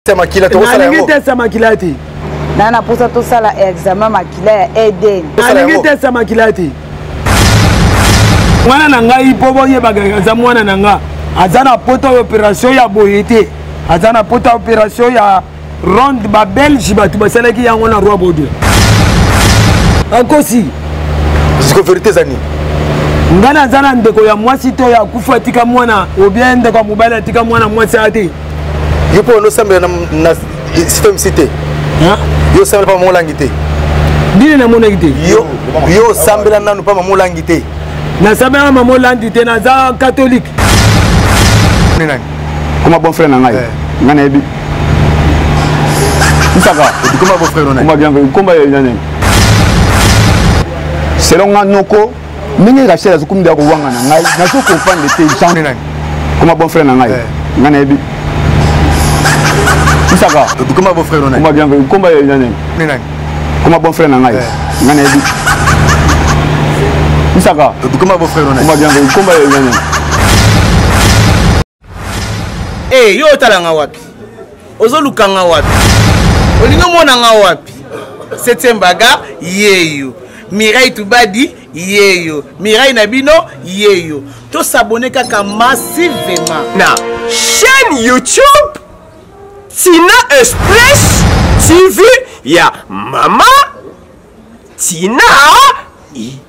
teste ya makila tokosala yango nalingi teste ya makila te na na posa tosala examen makila ya eden nalingi teste ya makila te mwana na ngai mpo boyebaka aza mwana na nga aza na poto ya opération ya boye te aza na poto ya opération ya ronde babelge bato basalaki yango na roi bodo akosi siko verité eza nini ngai naza na ndeko ya mwasi to ya kufu atika mwana obien ndeko ya mobali atika mwana mwasi aya te yo mpo onosambela na système si te yo osambela mpa mamolangi te nini namonaki te yo osambela nanu mpa mamolangi te nasambelaka mamolangi te naza katolike koma bon frère na ngai eh. ngai nayebi nsaka komba bien komba ya nani selon nga noko ndenge rachel azokomi deya kowanga na ngai nazo comprendre te jean koma bon frère na ngai eh. ngai nayebi isaka koma bon frère na ngai koma ya nani koma bon frère na ngai eh. ngai nayebi isaka koma bon frère na ngai koma ya nani hey, eh, yo otala nga wapi ozoluka nga wapi olingi omona nga wapi septième baga yeyo mirai tubadi yeyo mirai na bino yeyo tosabone kaka massivema na chaîne youtube tina express tv ya mama tina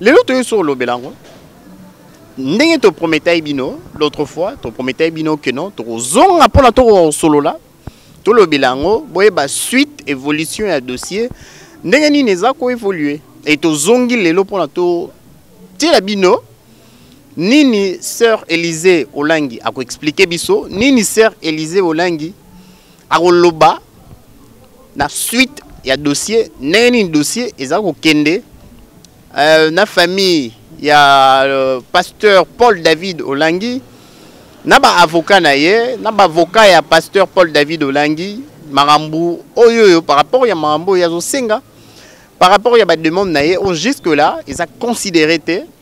lelo toyei so olobela yango ndenge toprometai bino l'autre fois toprometai bino ke non tokozonga mpo na tokoka kosolola tolobela yango boyeba suite évolution ya dossier ndenge nini eza koévolue e tozongi lelo mpo na totiela bino nini sœur élysée olangi akoexplike biso nini sœur élysée olangi Akoloba na suite ya dossier ndenge nini dossier eza kokende euh, na famille ya euh, pasteur Paul David Olangi na ba avocat na ye na ba avocat ya pasteur Paul David Olangi makambo oyo oyo par rapport ya makambo oyo azosenga par rapport ya ba demande na ye oyo jusque là eza considéré te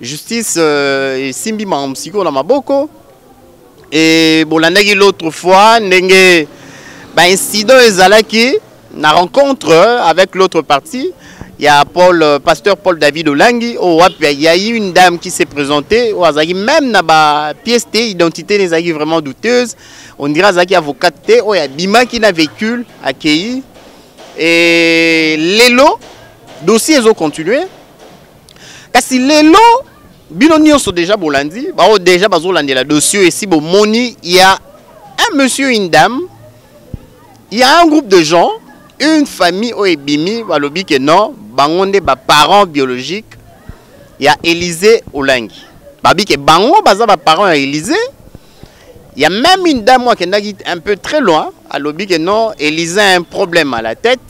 Justice euh, esimbi makambo sikoyo na maboko e bolandaki l'autre fois ndenge baincident ezalaki na rencontre avec l'autre partie il y a Paul, euh, pasteur Paul David Olangi, au il y a eu une dame qui s'est présentée, au Azaki, même dans la pièce d'identité, identité des Azaki vraiment douteuse, on dirait Azaki avocate, oh, il y a Bima qui n'a vécu, accueilli, et Lelo, dossier, ils ont continué, kasi lelo bino nyonso deja bolandi baoyo deja bazolandela dossier esi bomoni ya un monsieur une dame ya un groupe de gens une famille oyo ebimi balobi ke non bango nde baparent biologique ya élysée olangi babi ke bango baza baparent ya élysée ya même une dame oyo akendaki un peu très loin alobi ke non élysée un problème à la tête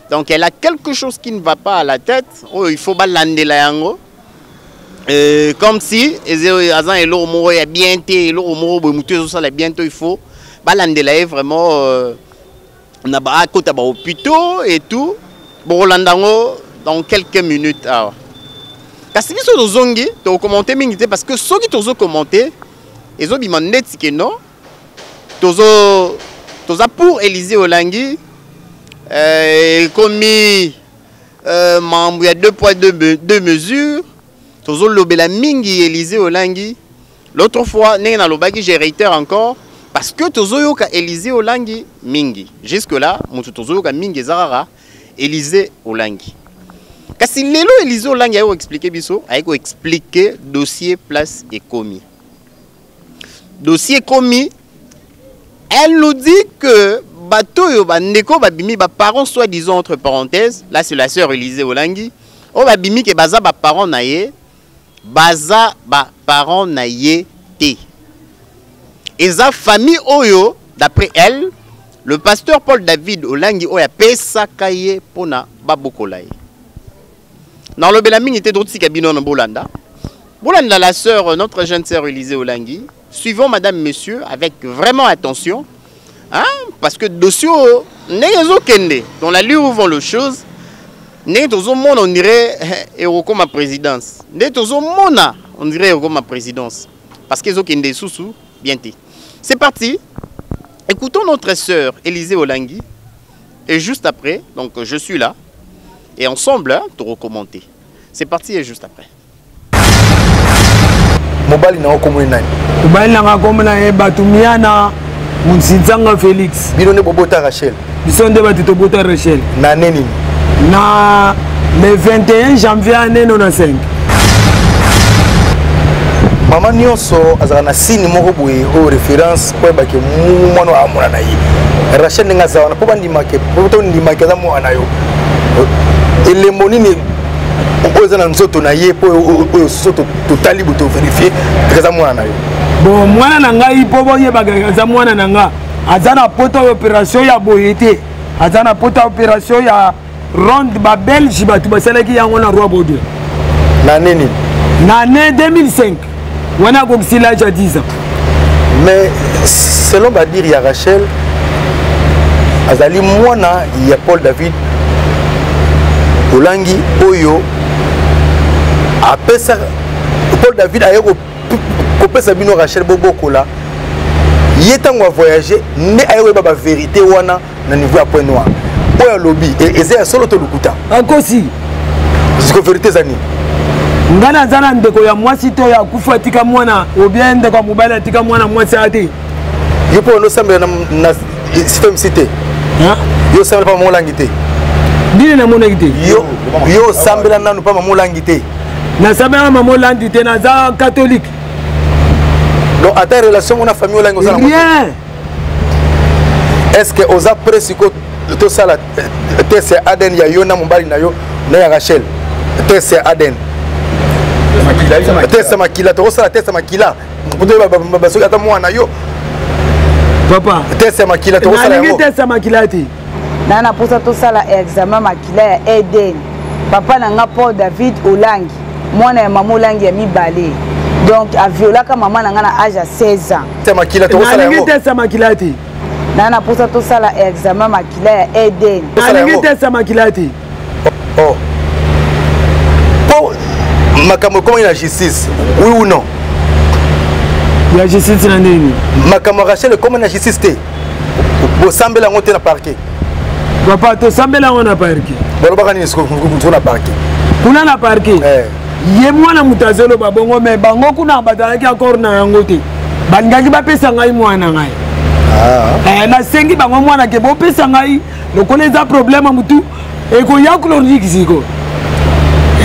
Donc elle a quelque chose qui ne va pas à la tête. Oh, il faut balandela yango. Euh, comme si azan eloko moko ya bien te eloko moko boye motu ezosala bien to il faut balandela ye vraiment euh, na akota bahopitaux et tout bokolanda yango dans quelques minutes awa kasi biso tozongi tokokommente mingi te parce que soki tozokommente ezobima ndeti ke non tozo toza pour Elysee Olangi euh, ekomi euh, mambo ya deux poids deux, deux mesures tozolobela mingi Elysee Olangi l'autre fois ndenge nalobaki je réitère encore parce que tozoyoka Elysee Olangi mingi jusque là moto tozoyoka mingi eza kaka Elysee Olangi kasi lelo Elysee Olangi aye koexplike biso aye koexplike dossier place ekomi dossier ekomi elle nous dit que bato oyo bandeko babimi baparent soit disant entre parenthèse là c'est la sœur élise olangi oyo babimi ke baza baparent na ye baza baparent na ye te eza famille oyo d'après elle le pasteur paul david olangi oyo apesaka ye mpo na babokola ye Na lobela mingi te totika bino na bolanda. Bolanda la sœur notre jeune sœur Elise Olangi. Suivons madame monsieur avec vraiment attention. Hein? Parce que dossier ndenge ezo kende dans la lure vont les choses. Ndenge tozo mona on dirait eh, eroko ma présidence. Ndenge tozo mona on dirait eroko ma présidence parce que ezo kende susu bien te. C'est parti. Écoutons notre sœur Élisée Olangi Et juste après, donc je suis là, et ensemble, hein, tu recommentais. C'est parti, et juste après. mobali na okomoi nani mobali nanga akomona ye bato miana munsinzanga félix bino nde bobota rachel biso nde bato tobota rachel na ne nini na le 21 janvier aneno na 5 mama nyonso azalaka na signe moko boye oyo référence koyeba ke mwana oyo amona na ye rachel ndenge aza wana mpo bandimake mpo tondimake aza mwana na yo elembo nini oyo eza na nzoto na ye mpo oyo susu totali bo toverifie eza mwana na yo bon mwana na ngai mpo boyebaka aza mwana na nga aza na poto ya operation ya boye te aza na poto ya operation ya ronde babelge bato basalaki yango na roi bode na ne nini na année 2005 wana akokisi l'age ya 10 ans mais selon badire ya rachel azali mwana ya paul david olangi oyo apesa paul david aye kopesa bino rachel bobokola ye ntango avoyage nde aye koyeba baverité wana na niveau ya point noir oyo alobi e, eza ya solo to lokuta akosi siko verité eza nini ngai naza na ndeko ya mwasi to ya kufu atika mwana obien ndeko ya mobali atika mwana mwasi aya te yo mpo onosambela na système si te yo osambela mpa mamolangi te nini namonaki te yo osambela nanu mpa mamolangi te nasambelaka mamolangi te naza katolike donc ata relation ngo na famille olangi osalaa est ce que oza près sikoyo tosala euh, test ya adn ya yo na mobali na yo na ya rachel test ya adn test ya makila tokosala test ya makila mpo toyeba soki ata mwana na yo papa test ya makila tokosala yango test ya makila te na na posa tosala examen makila ya eden papa na nga paul david olangi mwana ya mama olangi ya mibale donc aviolaka mama na nga na age ya 16 ans te makila tokosala yango te sa makila te na na posa tosala examen makila ya eden nalingi te sa makila te oh. po makambo ekomaki na justice oui ou non ya justice na nini makambo ya rachel ekomaki na justice te bosambela yango te na parquet papa tosambela yango na parquet bolobaka nini soko na parquet kuna na parquet eh. ye mwana moto azoloba bongo me bango kuna bazalaki akor na yango te balingaki bapesa ngai mwana ngai ah. eh, nasengi bango mwana ke bopesa ngai lokola eza problème mutu ekoya chronique siko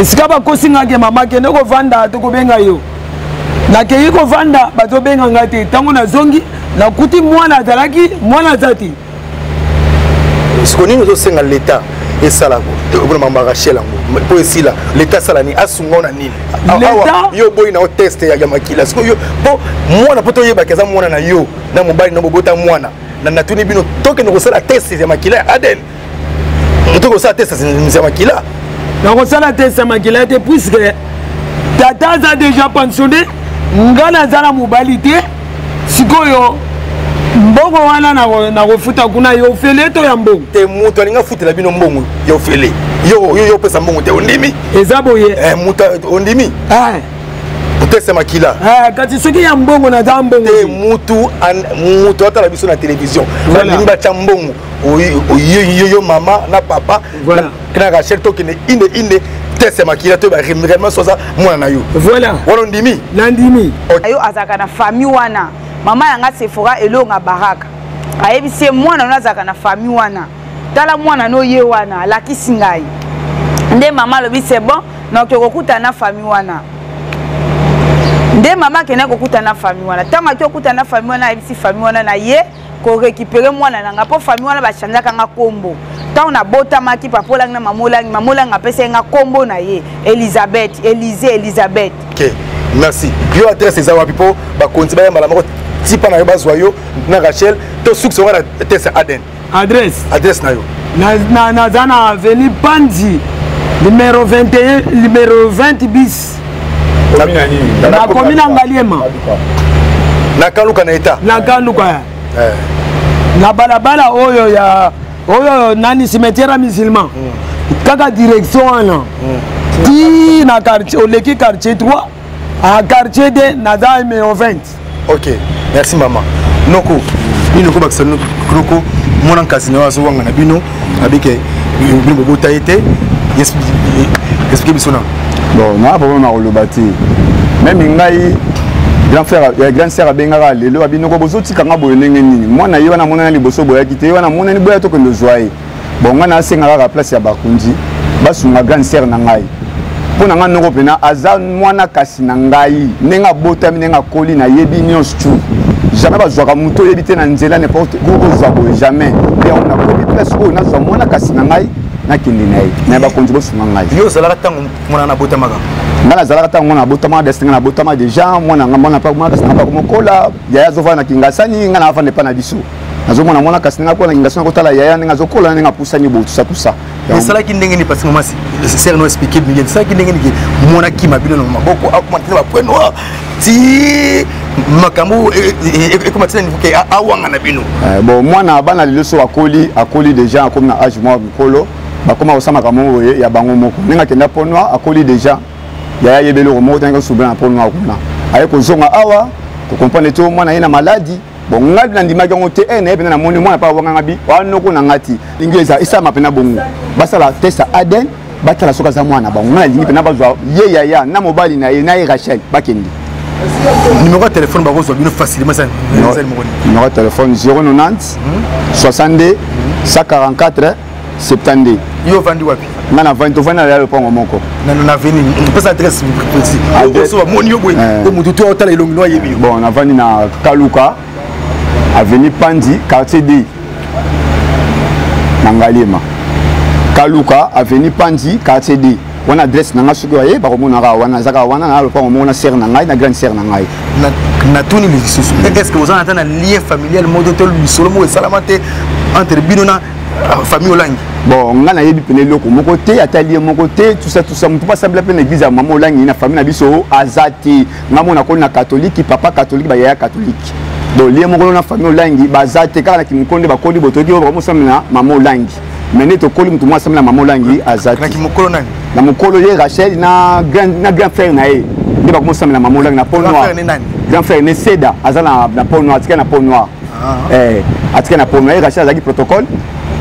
esika bakosi nga ke mama kende kovanda tokobenga yo nakeyi kovanda bazobenga nga te ntango nazongi nakuti mwana azalaki mwana aza te siko nini ozosenga leta esalako okona mambo ya rachel yango mpo esila leta asala nini asunga yo na nini awa yo oboyi na yo teste ya makila sikoyo mpo mwana mpo toyebaki aza mwana na yo na mobali na bobota mwana na natuni bino tokende kosala test ya makila ya adn moto kosala test ya makila nakosala test ya makila te puiske tata aza deja pensionne ngai naza na mobali te sikoyo mbongo wana nakofuta kuna yo ofele to ya mbongo te moto alingi afutela bino mbongo ya ofele yo yo opesa mbongo te ondimi eza boye eh, moto ondimi eh. teste makila eh, kati soki ya mbongo na za mbongo te mutu mutu atala biso na télévision balingi batya mbongo yo mama na papa na rachel tokende inde inde teste makila to baremema soza mwana na yo voilà wana ondimi nandimi yo azalaka na famille wana mama yanga sefora elonga baraka ayebisi ye mwana wana azalaka na famille wana tala mwana no ye wana alakisi ngai nde mama alobi c'est bon donc okokutana na famille wana nde mama akendaki kokutana na famille wana ntango ake kokutana na famille wana ayebisi famille wana na ye korekipere mwana na nga mpo famille wana bachanjaka nga nkombo ntango nabotamaki papa olangi na mama olangi mama olangi apesaki nga nkombo na ye elizabeth elize elizabeth okay. merci yo adresse eza wapi mpo bakonzi bayambala moko tipa na yo bazwa yo na rachel to sukisa ngo na tese aden adresse adresse na yo naza na avenue panzi numero 21 numero 20 bis nakomi na ngaliema nakaluka na eta nakaluka eh. na balabala oyo ya oyo nani cimetière ya musulman hmm. kaka direction wana hmm. ti na quartier oleki quartier 3 a quartier de naza numéro 20 ok merci mama noko bino kobakisa noko mwana nkasi na yo azowanga na bino abike bino bobota ye te explike biso na bon naa problème na koloba te meme ngai grand frère ya grand sœur abengaka lelo abinoko bozotika nga boye ndenge nini mwana ye wana amonana liboso boyaki te ye wana amonani boya tokende ozwa ye bon ngai nasenga kaka place ya bakonzi basunga grande sere na ngai mpo na ngai noko mpena aza mwana kasi na ngai ndenge abotami ndenge akoli nayebi nyonso tu jamais bazwaka moto oyebi te na nzela nimporte kozwa boye jamais mpe yango nakomi place oyo nazwa mwana kasi na ngai nakende na ye na bakonzi bosunga ngai yo ozalaka ntango mwana nabotamaka ngai nazalaka ntango mwana abotama desi ngai nabotama deja mwana ngai mwana mwana kasi nanga bakomokola yaya azovanda na kingasani ngai naafanda epai na biso nazomona mwana kasi ndenge akola na kingaso na kotala yaya ndenge azokola na ndenge apusani boye tusa tusa esalaki ndenge nini parce mama ser no explike bino esalaki ndenge nini mwana kima bino na maboko akoma tena bapwe noir ti makambo e, e, e, ekoma tina niveau ke awanga na bino eh, bon mwana bana lelo so akoli akoli déjà akomi na age mwa mikolo bakoma kosala makambo boye ya bango moko ndenge akenda po noir akoli déjà yaya yebeli oko moko tanga kosubela na po noir kuna aye kozonga awa kokomprendre te mwana ye na maladi bon ngai mpe nandimaki yango te e naye mpenza namoni mwana mpe awanganga bi wanoko na ngai ti ndenge eza esalama mpe na bongo basala test ya aden batala soki aza mwana na bango ngai nalingi mpenza bazwa ye yaya na mobali na ye na ye rachel bakende numéro ya telefone bakozwa bino facilement numéro ya telefone 090 62 144 70 yo ovandi wapi nga navandi tovandi na lalo mpongo moko naveni pesa adresse précis oso bamoni yo boye eh. o motu to otala elongi no ayebi yo bon navandi na kaluka avenue pandi quartier d na ngaliema kaluka avenue pandi quartier d wana adresse na ngai soki baye bakomonaka wana ezaka wana na lopango moko na sere na ngai na grande sere na ngai natuni lisusu est ce que oza na ata na lien familial moko to lisolo moko esalama te entre bino na Ah, famille olangi bon ngai nayebi mpena eloko moko te atali ye moko te tusa tusa motu mpo asambela mpe na eglize ya mama olangi na famille na biso aza te ngai mona koni na katolike papa katolike bayaya katolike donc lie moko na famille olangi baza te kaka na kimoko nde bakoli botoki oyo bakomosambela mama olangi me nde tokoli motu moko asambela mama olangi aza te na mokolo ye rachel na grand frère na ye nde bakomosambela mama olangi na po noir grand frère ne seda aza na po noir atika na po noir ah. eh, atika na pono ye rachel azalaki protocole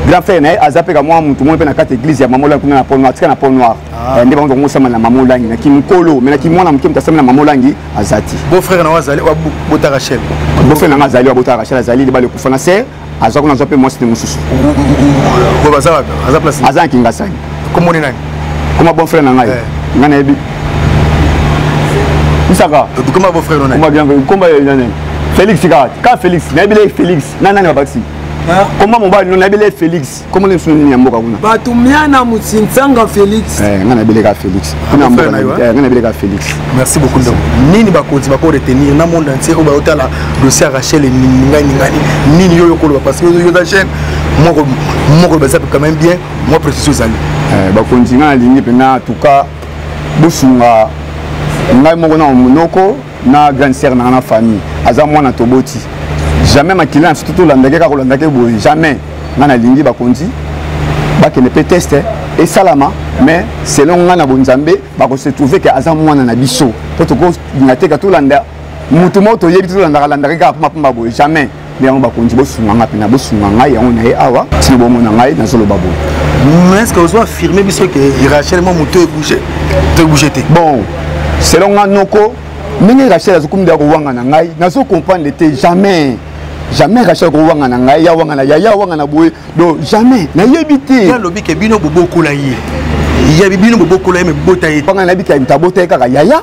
grand frère na ye aza mpe kamwa motu moko mpe na kati église ya mamolangi kuna na po noir atika na po noir ah. eh, nde bango bakosambela na mamolangi na kimokolo me na kimwana moke moto asambela na mamolangi aza ti bofrère na azali abota rachel bofrère na nga azali abota rachel azali libala ekufa na ser aza kuna azwa mpe mwasi nde mosusu aza na kingasani kombo ni nani koma bon frère na ngai eh. ngai nayebi misaka koma bon frère na ngai komba ya nani félix kaka ka félix nayebi le félix na nani babakisi koma mobali no nayebi le félix kombo nini sunu nini ya mboka kuna bato mia na motinsanga félix eh, ngai nayebi leka félix ah, kuna mboka eh, ngai nayebi leka félix merci beaucoup ndeko nini bakonzi bako retenir na monde entier oyo bayotala dossier ya rachel ningani ningani nini yo yokoloba parce que yo oza jeune moko moko baza quand même bien mwa précision ezali eh, bakonzi ngai nalingi mpenza atuka bosunga ngai moko na monoko na grande sere na ngai na famille aza mwana toboti jamais makila na biso tolandaki kaka kolandaki boye jamais ngai nalingi bakonzi bakende mpe teste eh. esalama mais selon ngai na bonzambe bakose trouve ke aza mwana na biso mpo tokolinga teka tolanda moto moko toyebi te tolandaka landaka kaka mpumapumba boye jamais nde yango bakonzi bosunga ngai mpena bosunga ngai yango na ye awa nsino bomona ngai nazoloba boye mais ce que ozo affirme biso ke rachel mwa moto ebouge to ebouge te bon selon nga noko ndenge rachel azokomida kowanga na ngai nazo comprendre te jamais jamais rachel kowanga na ngai ya wanga na yaya wanga na boye donc jamais nayebi te alobi ke bino bobokola ye ya bino bobokola ye mebota ye panga nayebi ke abota ye kaka yaya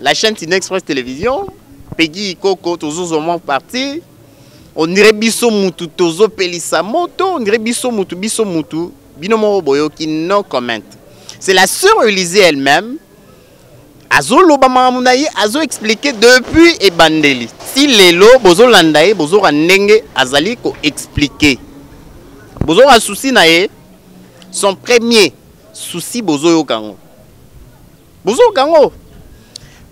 La chaîne Tine Express Télévision, Peggy Ikoko, toujours au moins parti. On dirait biso mutu tozo pelisa moto, on dirait biso mutu biso mutu. Bino moko boyoki no comment. C'est la sœur Elysée elle-même. Azo loba mamu na ye, azo expliquer depuis ebandeli. Si lelo bozo landa ye, bozo ndenge azali ko expliquer. Bozo souci na ye, son premier souci bozo yokango. bozoyoka yango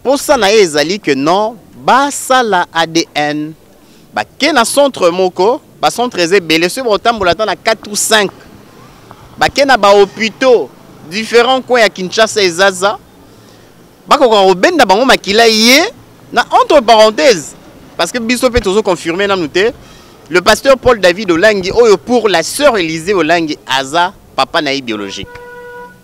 mposa na ye ezali que non basala adn bake na centre moko bacentre eza ebele soki bakotambola ata na 4 ou 5 bake na bahôpitaux différents coin ya kinshasa ezaza bakoka kobenda bango makila ye na entre parenthèse parce que biso mpe tozo confirme nanu te le pasteur paul david olangi oyo pour la sœur élysée olangi aza papa na ye biologique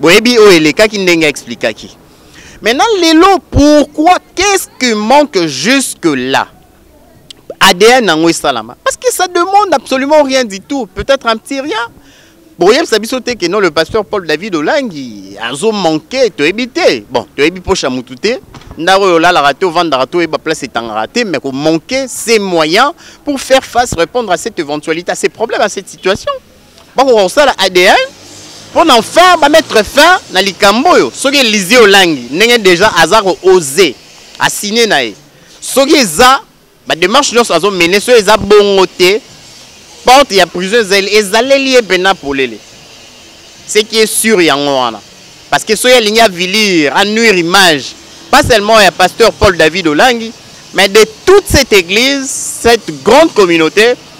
boyebi oyo elekaki ndenge explikaki maintenant lelo pourquoi qu'est-ce qui manque jusque là ADN yango esalama parce que ça demande absolument rien du tout peut-être un petit rien bokoyebisa biso te que non le pasteur paul david olangi azomanke toyebi te bon toyebi mposa motu te ndako oyo olalaka te ovandaka te oyeba place etangaka te mais komanke ces moyens pour faire face répondre à cette éventualité à ces problèmes à cette situation bakoka kosala adn mpo na fin bamettre fin na likambo oyo soki elizie olangi ndenge deja aza koose asigne na ye soki eza bademarche nyonso azomene soki eza bongo te porte ya prison ezali ezaleli ye mpenza polele ce qui est sur yango wana parce que soki alingi avilir anuire image pas seulement ya pasteur paul david olangi mais de toute cette église cette grande communauté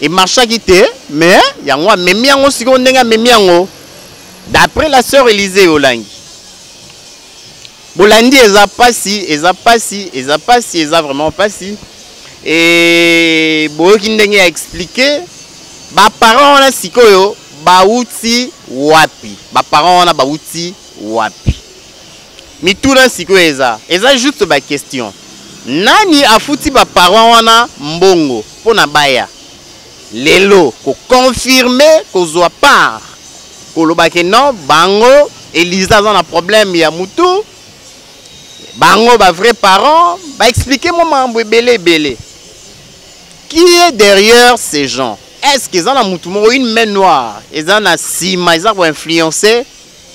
e marchaki te mais yango amemi yango sikoyo ndenge amemi yango d'après la sœur Elise Olangi bolandi eza pasi eza pasi eza pasi eza vraiment pasi e boyoki ndenge ya expliquer baparent wana sikoyo bauti wapi baparent wana bauti wapi Mituna sikoyo eza eza juste ba question. Nani afuti ba parents wana mbongo pona baya lelo ko confirme kozwa part koloba ke non bango Elisa aza na problème ya mutu bango ba vrai parents ba expliquer mwa mambo ebele ebele qui est derrière ces gens est-ce que eza na mutu moko une main noire eza na sima eza ko influencer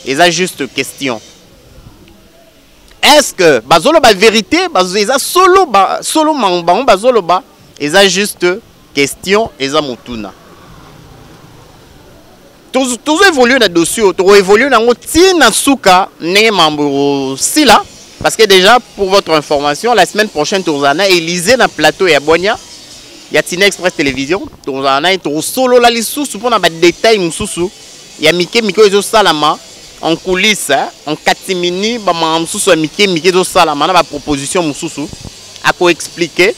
eza juste question est-ce que bazoloba vérité eza solo ba, solo bango bazoloba eza juste question eza motuna tozo évoluer na dossier oyo tokoévolue nango ti na suka ndenge mambo ekosila parce que déjà pour votre information la semaine prochaine tozala na élysée na plateau ya bwania ya tina express télévision tozala na ye tokosolola lisusu mpo na badetail mosusu ya mike mike oyo ezosalama en coulisse hein, en catimini bamama mosusu ya mike mike ezosalama na baproposition mosusu akoexplike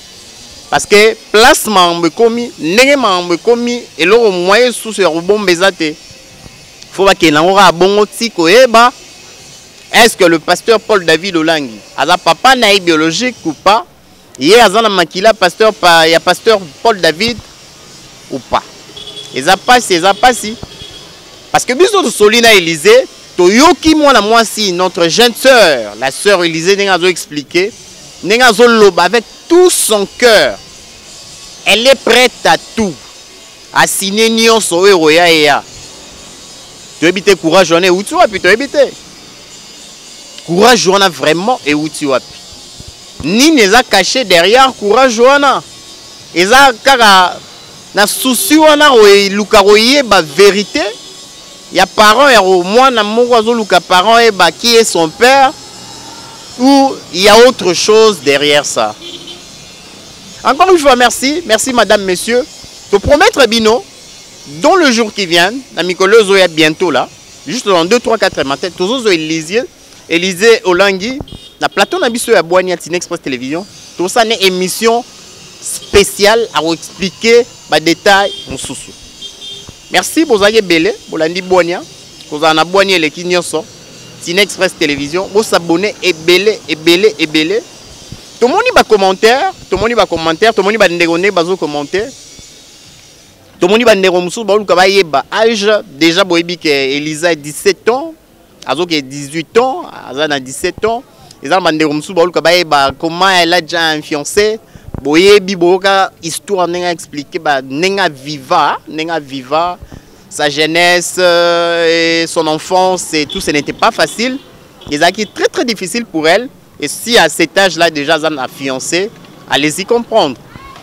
parce que place makambo ekomi ndenge makambo ekomi eloko moye esusu ya kobomba eza te fo bakende yango kaka bongo ti koyeba est ce que le pasteur paul david olangi aza papa na ye biologique ou pas ye aza na makila pasteur pa, ya pasteur paul david ou pas eza mpasi eza mpasi parce que biso tosoli na élysée toyoki mwana mwasi notre jeune sœur la sœur élysée ndenge azoexplike ndenge azoloba avec tout son cœur elle est prête à tout asine nyonso oyo ekoya eya toyebi te courage wana euti wapi toyebi te courage wana vraiment euti wapi nini eza caché derrière courage wana eza kaka na souci wana koeluka koyeba verité ya parent ya mwana moko azoluka parent ayeba qui est son père ou il y a autre chose derrière ça encore une fois merci merci madame monsieur te promettre bino dans le jour qui vient na mikolo ezoya bientôt là juste dans 2 3 4 matin tozozwa elizier elizier olangi na plateau na biso ya bwani ya tine express télévision tosala ne émission spéciale akoexplike badetail mosusu merci bozalaki ebele bolandi bwania kozala na bwani eleki nyonso tine express télévision bosabone ebele ebele ebele tomoni bacommentaire tomoni bacommentaire tomoni bandeko nde bazocommentaire tomoni bandeko mosusu baoluka bayeba age déjà boyebi ke elisa 17 ans azoke 18 ans aza na 17 ans eza na bandeko mosusu baoluka bayeba comment elle a déjà un fiancé boyebi boyoka histoire ndenge aexplike ba ndenge aviva ndenge aviva sa jeunesse euh, et son enfance et tout ce n'était pas facile ezalaki très très difficile pour elle Et si à cet âge là déjà aza na fiancé, allez-y comprendre.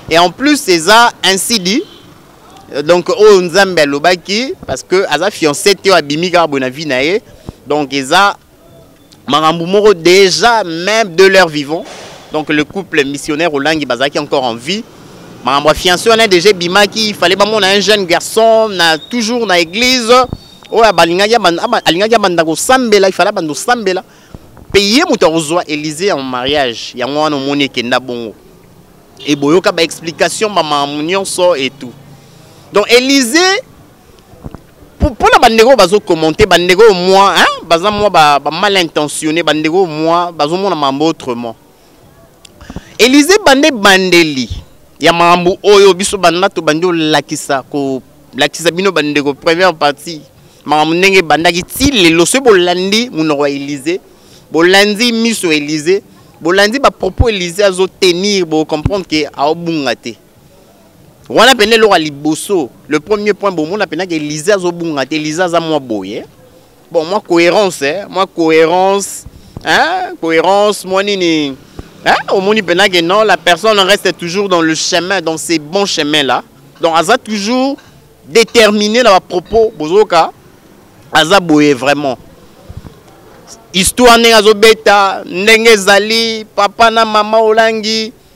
Et en plus c'est ça ainsi dit euh, donc oyo nzambe alobaki parce que aza fiancé te oyo abimi kaka boye na vie na ye donc eza makambo moko déjà même de leur vivant donc le couple missionnaire olangi bazalaki encore en vie makambo ya fiancé wana déjà ebimaki il fallait bamona un jeune garçon na toujours na église oyo alingaki abanda kosambela il fallait abanda kosambela mpe ye moto akozwa elize ya mariage yango wana omoni ekenda bongo eboyoka baexplication bamamu nyonso etu donc elize mpo na bandeko oyo bazokommente bandeko oyo mwa baza mwa bamal intentionne bandeko oyo mwa bazomona mambo autrement Elize bande bandeli ya makambo oyo biso banda tobandi olakisa kolakisa bino bandeko première partie makambo ndenge ebandaki ti lelo soki bolandi monoko ya elize bolandi miso ya elize bolandi bapropos elize azotenir bocomprendre ke aobunga te wana mpena eloko ya liboso le premier point bomona mpenaka elize azobunga te elize aza mwa boye bon moi cohérence eh? moi cohérence hein? cohérence moi nini hein? omoni mpenza que non la personne reste toujours dans le chemin dans ces bons chemins là donc aza toujours déterminé na bapropos bozoka aza boye vraiment histoire ndenge azobeta ndenge ezali papa na mama olangi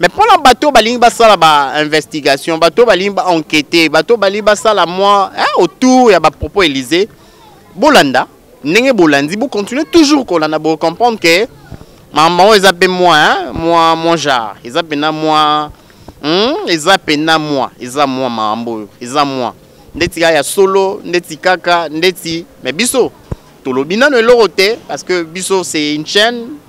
mais mpo na bato balingi basala bainvestigation bato balingi baenquete bato balingi basala mwa eh, autour ya bapropos élysée bolanda ndenge bolandi bocontinue toujours kolanda bocomprendre ke makambo yango eza mpe mwa eh, mwa mwa genre eza mpena mwa hmm, eza mpena mwa eza mwa makambo oyo eza mwa ndeti kaka ya solo ndeti kaka ndeti me biso tolobi nano eloko te parce que biso c'est une chaîne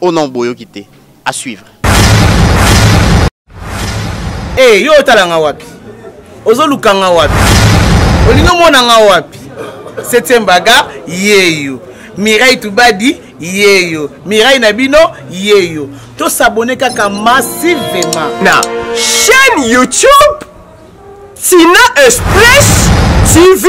Oh non, boyoki te. À suivre. Eh, hey, yo otala nga wapi? Ozoluka nga wapi? Olingi omona nga wapi? Septième baga, yeyo. Mireille Tubadi, yeyo. Mireille na bino, yeyo. To s'abonner kaka massivement. Na chaîne YouTube Tina Express TV